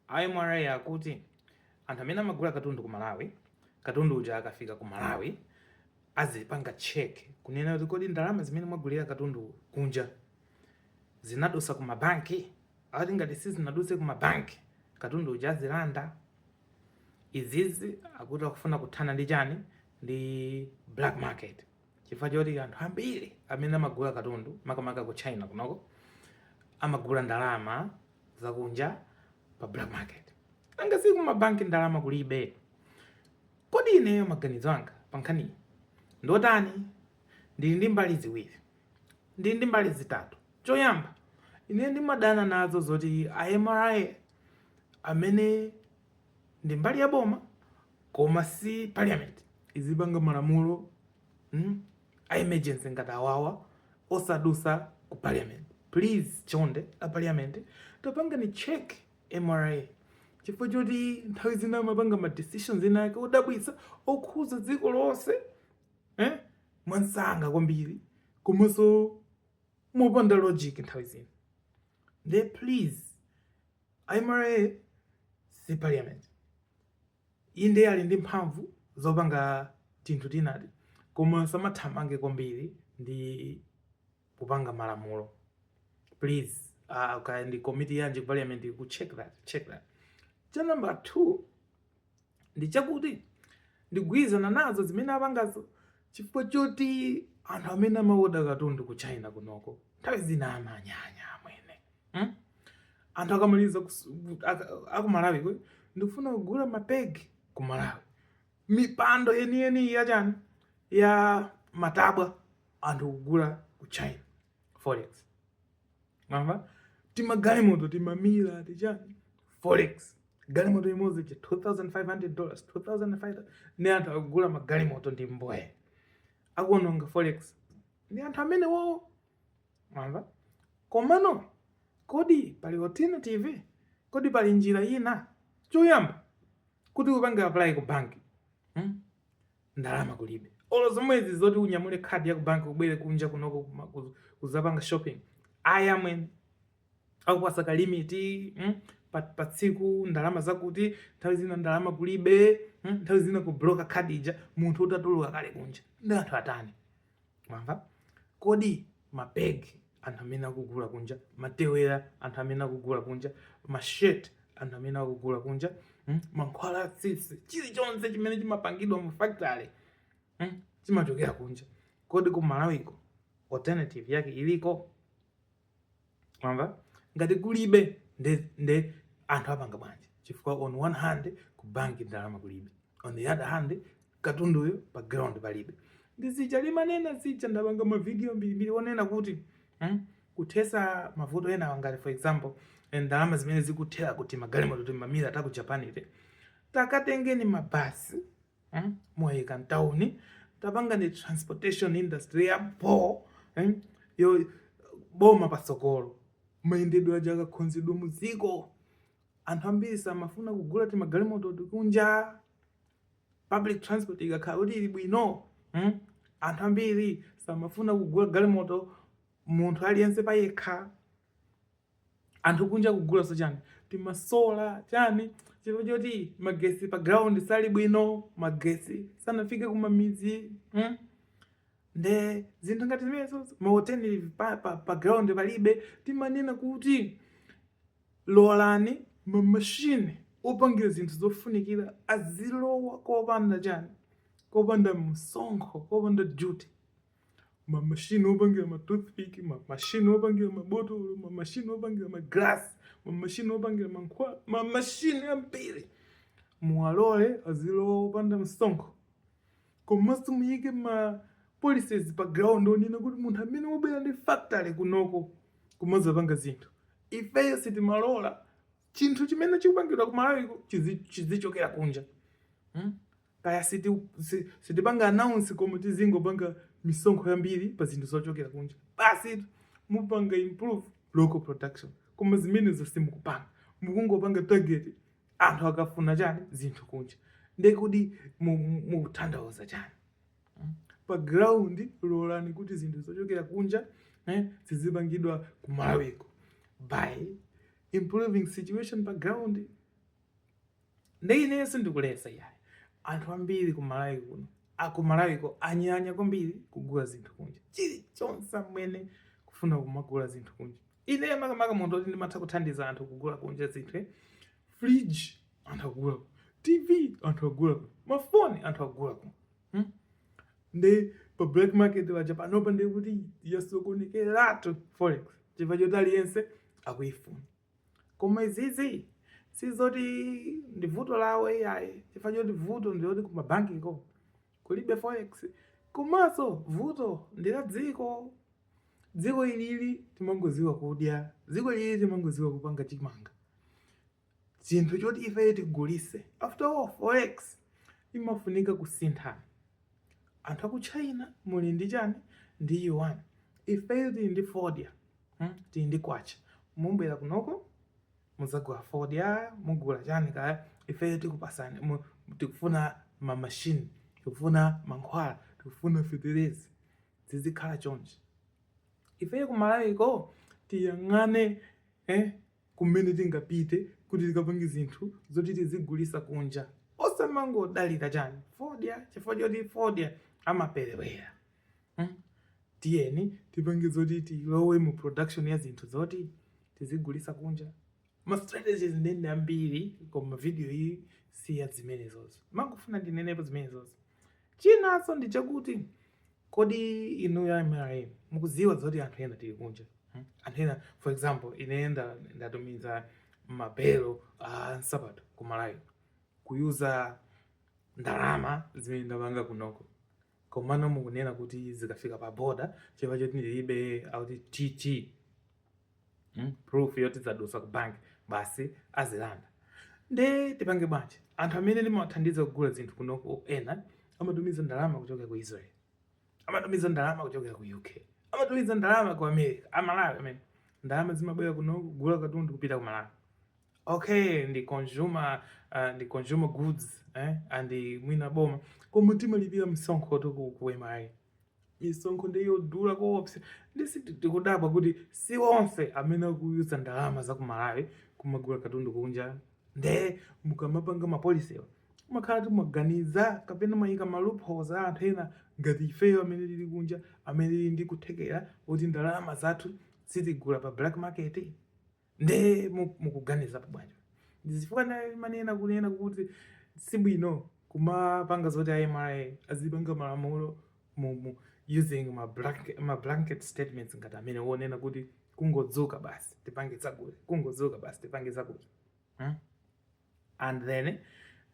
A mra akuti anthu amene amagula katundu ku Malawi, katundu uja akafika ku Malawi azipanga check kunena kuti kodi ndalama zimene mwagulira katundu kunja zinadusa ku ma bank? Akuti ngati sizinaduse ku ma bank katundu uja azilanda. Izizi akuti akufuna kuthana ndi chani? Ndi black market. chifukwa choti anthu ambiri amene amagula katundu makamaka ku china kunoko amagula ndalama zakunja pa black market nanga si ku mabanki ndalama kulibe kodi ineyo maganizo anga pankhaniyi ndotani ndili ndi mbali ziwiri ndili ndi mbali zitatu choyamba ine ndimadana nazo zoti a mra amene ndi mbali ya boma koma si parliament izipanga malamulo mm, a emergency ngati awawa osadusa ku parliament please chonde a parliament tapangeni check mra chifukwa choti nthawi zina amapanga ma decisions ena ake odabwitsa okhuza dziko lonse eh? mwansanga kwambiri komanso mopanda logic nthawi zina nde please A mra si parliament. Inde ali ndi mphamvu zopanga tinthu tinati koma samathamange kwambiri ndi kupanga malamulo. Please, kaya ndi committee yanji parliament ku check that, check that. Cha number 2, ndi chakuti ndigwirizana nazo zimene apangazo chifukwa choti anthu amene amaoda katundu ku china kunoko nthawi zina amanyanya amwene hmm? anthu a Kamaliza akumalawi kuti ndikufuna kugula mapegi ku malawi mipando yeniyeni yachani ya matabwa anthu kugula ku china forex mamba timagalimoto tima Mira tichani forex galimoto imodzi cha 2500 dollars 2500 ni anthu akugula magalimoto ndi mbwee akuononga forex ndi anthu amene wowo mamba komano kodi pali alternative kodi pali njira ina choyamba kuti upange apply ku banki hmm? ndalama kulibe olo zomwezi zoti unyamule khadi ya kubanki ubwere kunja kunoko kuma- kuz- kuzapanga shopping ayi amwene akupasa ka limit mm? pa, pa tsiku ndalama zakuti nthawi zina ndalama kulibe mm? nthawi zina kubloka khadi ija munthu utatuluka kale kunja nde anthu atani mwamva kodi mapegi anthu amene akugula kunja matewera anthu amene akugula kunja ma shirt anthu amene akugula kunja hmm? mankhwala atsitsi chilichonse chimene chimapangidwa mu factory hmm? chimachokera kunja kodi ku malawiko alternative yake iliko mwamva ngati kulibe nde, nde anthu apanga bwanji chifukwa on one hand ku bank ndalama kulibe on the other hand katunduyo pa ground palibe ndi zija ndimanena zija ndapanga mavidiyo mbirimbiri onena kuti hmm? kuthetsa mavuto enawa ngati for example eh, ndalama zimene zikuthera kuti magalimoto timamira ta ku japan iti takatengeni mabasi mm? muwaike mtauni tapangani transportation industry ya bho mm? yobooma patsogolo mayendedwe aja akakhonzedwa mu dziko anthu ambiri samafuna kugula timagalimoto tikunja public transport ikakhala kuti ili bwino mm? anthu ambiri samafuna kugula galimoto munthu aliyense payekha anthu kunja kugula so chani timasola chani chifukwa choti magesi pa ground sali bwino magesi sanafike kumamidzi mm? nde zinthu ngati zimenezo mahoteli pa, pa, pa ground palibe timanena kuti lolani mamashini opangira zinthu zofunikira azilowa kopanda chani kopanda msonkho kopanda duty mamashini opangira ma toothpick mamashini opangira mabotolo mamashini opangira maglasi mamashini opangira mankhwala mamashini ambiri muwalole azilowa opanda msonkho komanso muyike ma policies pa ground onena kuti munthu amene wabwera ndi factory kunoko kumazapanga zinthu ifeyo sitimalola chinthu chimene chikupangidwa ku malawiko chizi- chizichokera kunja hmm? Kaya siti si, sitipanga announce koma tizingopanga misonkho yambiri pa zinthu zochokera kunja basitu mupanga improve local production koma zimenezo simukupanga mukungopanga target anthu akafuna chani zinthu kunja nde kodi mukutanthauza chani mm? pa ground lolani kuti zinthu zochokera kunja eh, zizipangidwa kumalawiko by improving situation pa ground Nde ineyo sindikuletsa iyayi. Anthu ambiri ku Malawi kuno a ku Malawiko anyanya kwambiri kugula zinthu kunja. Chilichonse amwene kufuna kumagula zinthu kunja. Ineyo makamaka munthu woti ndimatha kuthandiza anthu kugula kunja zinthu eh. Fridge anthu akugula kuno. TV anthu akugula kuno. Mafoni anthu akugula kuno. Hmm? Nde pa black market paja panopa ndikuti yasokonekeratu forex chifukwa choti aliyense akuifuna. Koma izizi sizoti ndi vuto lawo iyayi chifukwa choti vuto ndiloti kumabankiko kulibe forex komanso vuto ndi la dziko. Dziko ilili timangodziwa kudya, dziko ilili timangodziwa kupanga chimanga, chinthu choti ifeyo tigulitse. After all forex imafunika kusintha. Anthu aku China muli ndi chani ndi yuan ifeyo tili ndi fodya hmm tili ndi kwacha mumabwera kunoko muzagula fodya mugula chani kaya ifeyo tikupasani tikufuna ma machine tikufuna mankhwala tikufuna fetereza zizikhala chonchi ifeyo ku Malawi ko tiyang'ane eh kumene tingapite kuti tikapange zinthu zoti tizigulisa kunja osamangodalira chani fodya chifukwa choti fodya amaperewera hmm? tiyeni tipange zoti tilowe mu production ya zinthu zoti tizigulisa kunja ma strategies ndende ambiri koma video iyi siya zimenezozo ndimangofuna ndinenepo zimenezozo chinaso ndichakuti Kodi inuyo a mra mukudziwa zoti anthu ena tili kunja mm? anthu ena for example ineyo ndatumiza mabelo a nsapato ku malawi kuyuza ndalama zimene ndapanga kunoko komano mukunena kuti zikafika pa boda chifukwa choti ndilibe outward tt mm? proof yoti zadusa ku bank basi azilanda nde tipange bwanji anthu amene ndimawathandiza kugula zinthu kunoko ena amatumiza ndalama kuchokera ku israel amatumiza ndalama kuchokera ku uk amatumiza ndalama ku america amalawi amene ndalama zimabwera kunoko kugula katundu kupita ku malawi okay ndi consumer uh, ndi consumer goods eh? and mwina boma koma timalipira msonkho too ku, ku mra misonkho ndi yodula koopsa ndi sitikudabwa kuti si onse amene akuyuza ndalama za ku malawi kumagula katundu kunja nde mukamapanga ma policy-wa muzikhala mukuganiza kapena muziyika ma loopholes a anthu ena ngati ifeyo amene tili kunja amene tili ndi kuthekera kuti ndalama zathu sitigula pa black market nde mukuganizapo bwanji ndizifukwa ndimanena kunena kuti sibwino kumapanga zoti a mra azipanga malamulo mm using ma blanket, ma blanket statements ngati amene wonena kuti kungodzuka basi tipange zakuti kungodzuka basi tipange zakuti hmm? and then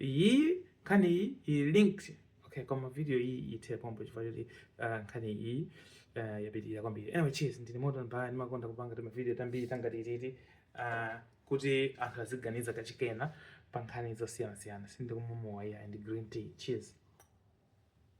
iyi nkhani iyi iyi linked okay koma video iyi ithe pompo chifukwa choti uh, nkhani iyi uh, yapitirira kwambiri anyway cheers ndine moto mbaya ndimakonda kupanga timavideo tambiri tangati titi uh, kuti anthu aziganiza kachikena pa nkhani zosiyanasiyana sindikumwa mowa iyayi ndi green tea cheers